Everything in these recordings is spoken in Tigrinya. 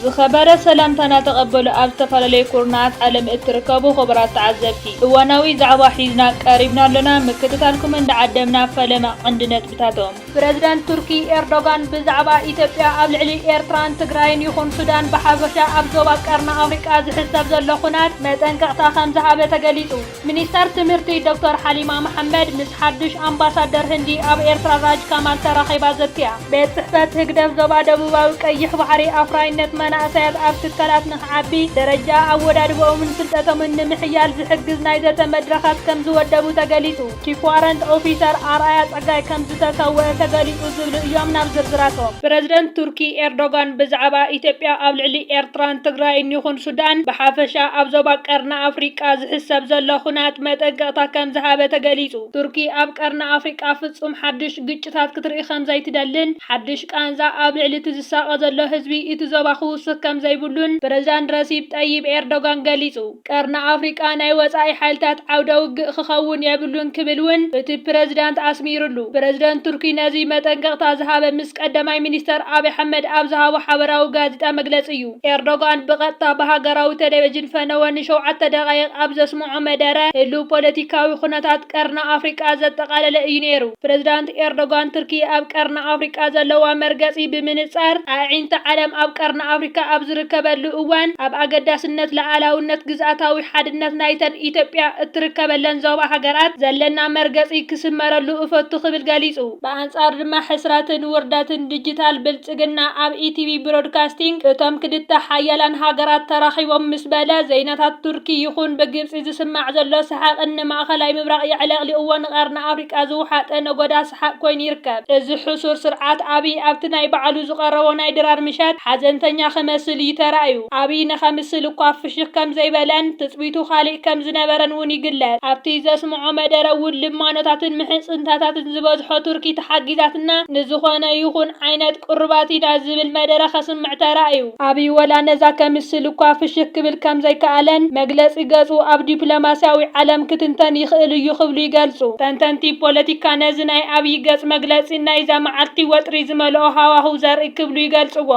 ዝኸበረ ሰላምታና ተቐበሉ ኣብ ዝተፈላለዩ ኩርናዓት ዓለም እትርከቡ ክቡራት ተዓዘብቲ እዋናዊ ዛዕባ ሒዝና ቀሪብና ኣሎና ምክትታልኩም እንዳዓደምና ፈለማ ቐንዲ ነጥብታቶም ፕረዚደንት ቱርኪ ኤርዶጋን ብዛዕባ ኢትዮጵያ ኣብ ልዕሊ ኤርትራን ትግራይን ይኹን ሱዳን ብሓፈሻ ኣብ ዞባ ቀርኒ ኣፍሪቃ ዝሕሰብ ዘሎ ኹናት መጠንቀቕታ ከምዝሃበ ተገሊጹ። ሚኒስተር ትምህርቲ ዶክተር ሓሊማ መሓመድ ምስ ሓዱሽ ኣምባሳደር ህንዲ ኣብ ኤርትራ ራጅ ካማል ተራኺባ ዘትያ። ቤት ጽሕፈት ህግደፍ ዞባ ደቡባዊ ቀይሕ ባሕሪ ኣፍራይነት መናእሰያት ኣብ ትካላት ንኽዓቢ፣ ደረጃ ኣወዳድብኦምን ፍልጠቶምን ንምሕያል ዝሕግዝ ናይ ዘተ መድረኻት ከምዝወደቡ ተገሊጹ። ቺፍ ዋረንት ኦፊሰር ኣርኣያ ጸጋይ ከምዝተሰወኣ ተገሊጹ ዝብሉ እዮም ናብ ዝርዝራቶም። ፕረዚደንት ቱርኪ ኤርዶጋን ብዛዕባ ኢትዮጵያ ኣብ ልዕሊ ኤርትራን ትግራይን ይኹን ሱዳን ብሓፈሻ ኣብ ዞባ ቀርኒ ኣፍሪቃ ዝሕሰብ ዘሎ ኹናት መጠንቀቕታ ከምዝሃበ ተገሊጹ። ቱርኪ ኣብ ቀርኒ ኣፍሪቃ ፍጹም ሓድሽ ግጭታት ክትርኢ ከምዘይትደልን ሓድሽ ቃንዛ ኣብ ልዕሊ እቲ ዝሳቐ ዘሎ ህዝቢ እቲ ዞባ ክውስኽ ከምዘይብሉን ፕረዚዳንት ረሲፕ ጠይብ ኤርዶጋን ገሊጹ። ቀርኒ ኣፍሪቃ ናይ ወጻኢ ሓይልታት ዓውደ ውግእ ክኸውን የብሉን ክብል እውን እቲ ፕረዚዳንት ኣስሚርሉ። ፕረዚደንት ቱርኪ ነዚ መጠንቀቕታ ዝሃበ ምስ ቀዳማይ ሚኒስተር ኣብይ ኣሕመድ ኣብ ዝሃቦ ሓበራዊ ጋዜጣ መግለጺ እዩ። ኤርዶጋን ብቐጥታ ብሃገራዊ ተለቪዥን ፈነወ ንሸውዓተ ደቓይቕ ኣብ ዘስምዖ መደረ፣ ህሉው ፖለቲካዊ ኩነታት ቀርኒ ኣፍሪቃ ዘጠቓለለ እዩ ነይሩ። ፕረዚዳንት ኤርዶጋን ቱርኪ ኣብ ቀርኒ ኣፍሪቃ ዘለዋ መርገጺ ብምንጻር ኣዒንቲ ዓለም ኣብ ቀርኒ ኣፍሪካ ኣብ ዝርከበሉ እዋን ኣብ ኣገዳስነት ልኣላውነት ግዝኣታዊ ሓድነት ናይተን ኢትዮጵያ እትርከበለን ዞባ ሃገራት ዘለና መርገጺ ክስመረሉ እፈቱ ክብል ገሊጹ። ብኣንጻሩ ድማ ሕስረትን ውርደትን ድጅታል ብልጽግና ኣብ ኢቲቪ ብሮድካስቲንግ እቶም ክልተ ሓያላን ሃገራት ተራኺቦም ምስ በለ ዘይናታት ቱርኪ ይኹን ብግብጺ ዝስማዕ ዘሎ ሰሓቕን ንማእኸላይ ምብራቕ የዕለቕሊቕዎ ንቀርኒ ኣፍሪቃ ዝውሓጠ ነጎዳ ሰሓቕ ኮይኑ ይርከብ። እዚ ሕሱር ስርዓት ኣብይ ኣብቲ ናይ ባዕሉ ዝቐረቦ ናይ ድራር ምሸት ሓዘንተኛ ክመስል እዩ ተራእዩ። ኣብይ ንከምስል እኳ ፍሽኽ ከም ዘይበለን ትጽቢቱ ካልእ ከም ዝነበረን እውን ይግለጽ። ኣብቲ ዘስምዖ መደረ እውን ልማኖታትን ምሕጽንታታትን ዝበዝሖ ቱርኪ ተሓጊዛትና ንዝኾነ ይኹን ዓይነት ቁሩባት ኢዳ ዝብል መደረ ከስምዕ ተራእዩ። ኣብይ ወላ ነዛ ከምስል እኳ ፍሽኽ ክብል ከም ዘይከኣለን መግለጺ ገጹ ኣብ ዲፕሎማስያዊ ዓለም ክትንተን ይኽእል እዩ ክብሉ ይገልጹ። ተንተንቲ ፖለቲካ ነዚ ናይ ኣብይ ገጽ መግለጺ ናይዛ መዓልቲ ወጥሪ ዝመልኦ ሃዋህው ዘርኢ ክብሉ ይገልጽዎ።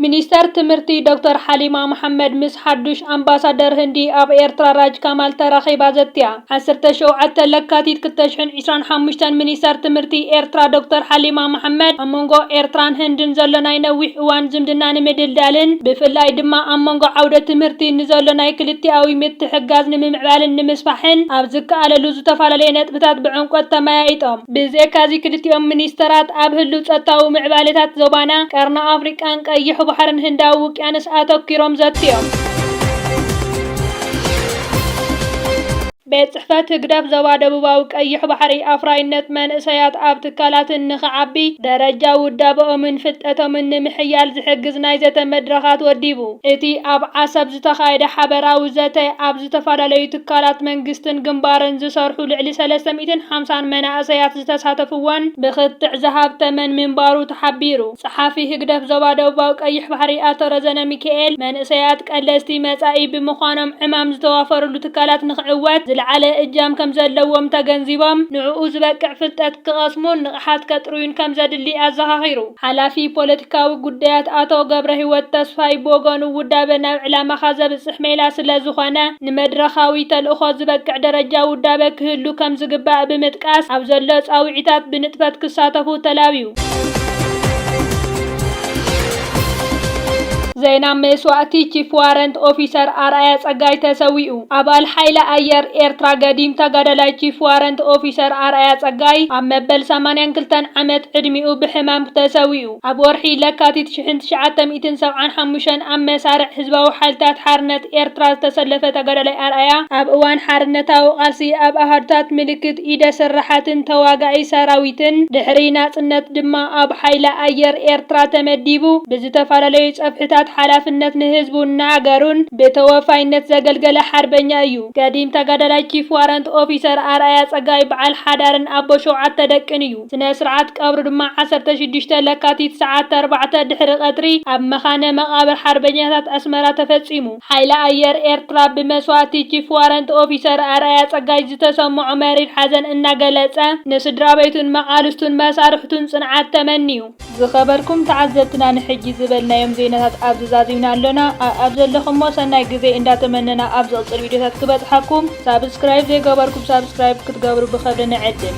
ሚኒስተር ትምህርቲ ዶክተር ሓሊማ መሓመድ ምስ ሓዱሽ ኣምባሳደር ህንዲ ኣብ ኤርትራ ራጅ ካማል ተራኺባ ዘትያ። ዓሰርተ ሸውዓተ ለካቲት ክልተ ሽሕን ዒስራን ሓሙሽተን ሚኒስተር ትምህርቲ ኤርትራ ዶክተር ሓሊማ መሓመድ ኣብ መንጎ ኤርትራን ህንድን ዘሎ ናይ ነዊሕ እዋን ዝምድና ንምድልዳልን ብፍላይ ድማ ኣብ መንጎ ዓውደ ትምህርቲ ንዘሎ ናይ ክልቲኣዊ ምትሕግጋዝ ንምምዕባልን ንምስፋሕን ኣብ ዝከኣለሉ ዝተፈላለየ ነጥብታት ብዕምቆት ተመያይጦም። ብዘይካዚ ክልቲኦም ሚኒስተራት ኣብ ህሉው ጸጥታዊ ምዕባሌታት ዞባና፣ ቀርኒ ኣፍሪቃን ቀይሕ ባሕርን ህንዳዊ ውቅያኖስ ኣተኲሮም ዘትዮም። ቤት ጽሕፈት ህግደፍ ዞባ ደቡባዊ ቀይሕ ባሕሪ ኣፍራይነት መንእሰያት ኣብ ትካላትን ንኽዓቢ ደረጃ ውዳበኦምን ፍልጠቶምን ንምሕያል ዝሕግዝ ናይ ዘተ መድረኻት ወዲቡ። እቲ ኣብ ዓሰብ ዝተኻየደ ሓበራዊ ዘተ፣ ኣብ ዝተፈላለዩ ትካላት መንግስትን ግንባርን ዝሰርሑ ልዕሊ ሰለስተ ሚእትን ሓምሳን መናእሰያት፣ ዝተሳተፍዎን ብክትዕ ዝሃብተመን ምንባሩ ተሓቢሩ። ጸሓፊ ህግደፍ ዞባ ደቡባዊ ቀይሕ ባሕሪ ኣቶ ረዘነ ሚኪኤል፣ መንእሰያት ቀለስቲ መጻኢ ብምዃኖም ዕማም ዝተዋፈርሉ ትካላት ንኽዕወት ዝለዓለ እጃም ከምዘለዎም ተገንዚቦም ንዕኡ ዝበቅዕ ፍልጠት ክቐስሙን ንቕሓት ከጥርዩን ከምዘድሊ ኣዘኻኺሩ። ሓላፊ ፖለቲካዊ ጉዳያት ኣቶ ገብረሂወት ተስፋይ ብወገኑ ውዳበ ናብ ዕላማኻ ዘብጽሕ ሜላ ስለዝኾነ ንመድረኻዊ ተልእኾ ዝበቅዕ ደረጃ ውዳበ ክህሉ ከምዝግባእ ብምጥቃስ ኣብ ዘሎ ጻውዒታት ብንጥፈት ክሳተፉ ተላብዩ። ዜና መስዋእቲ ቺፍ ዋረንት ኦፊሰር ኣርኣያ ጸጋይ ተሰዊኡ! ኣባል ሓይሊ ኣየር ኤርትራ ገዲም ተጋዳላይ ቺፍ ዋረንት ኦፊሰር ኣርኣያ ጸጋይ ኣብ መበል ሰማንያን ክልተን ዓመት ዕድሚኡ ብሕማም ተሰዊኡ። ኣብ ወርሒ ለካቲት ሽሕን ትሽዓተ ሚእትን ሰብዓን ሓሙሽተን ኣብ መሳርዕ ህዝባዊ ሓይልታት ሓርነት ኤርትራ ዝተሰለፈ ተጋዳላይ ኣርኣያ ኣብ እዋን ሓርነታዊ ቃልሲ ኣብ ኣሃዱታት ምልክት ኢደ ስራሓትን ተዋጋኢ ሰራዊትን፣ ድሕሪ ናጽነት ድማ ኣብ ሓይሊ ኣየር ኤርትራ ተመዲቡ ብዝተፈላለዩ ጸፍሕታት ሓላፍነት ንህዝቡን ንሃገሩን ብተወፋይነት ዘገልገለ ሓርበኛ እዩ። ገዲም ተጋዳላይ ቺፍ ዋረንት ኦፊሰር ኣርኣያ ጸጋይ በዓል ሓዳርን ኣቦ ሸውዓተ ደቅን እዩ። ስነ ስርዓት ቀብሩ ድማ ዓሰርተ ሽዱሽተ ለካቲት ሰዓት ኣርባዕተ ድሕሪ ቀትሪ ኣብ መካነ መቓብር ሓርበኛታት ኣስመራ ተፈጺሙ። ሓይሊ ኣየር ኤርትራ ብመስዋእቲ ቺፍ ዋረንት ኦፊሰር ኣርኣያ ጸጋይ ዝተሰመዖ መሪር ሓዘን እናገለጸ፣ ንስድራቤቱን መቓልስቱን መሳርሕቱን ጽንዓት ተመንዩ። ዝኸበርኩም ተዓዘብትና ንሕጂ ዝበልናዮም ዜናታት ኣብዚ ዛዚምና ኣሎና ኣኣብ ዘለኹሞ ሰናይ ግዜ እንዳ ተመነና ኣብ ዝቕጽል ቪድዮታት ክበጽሓኩም ሳብስክራይብ ዘይገበርኩም ሳብስክራይብ ክትገብሩ ብኸብሪ ንዕድም።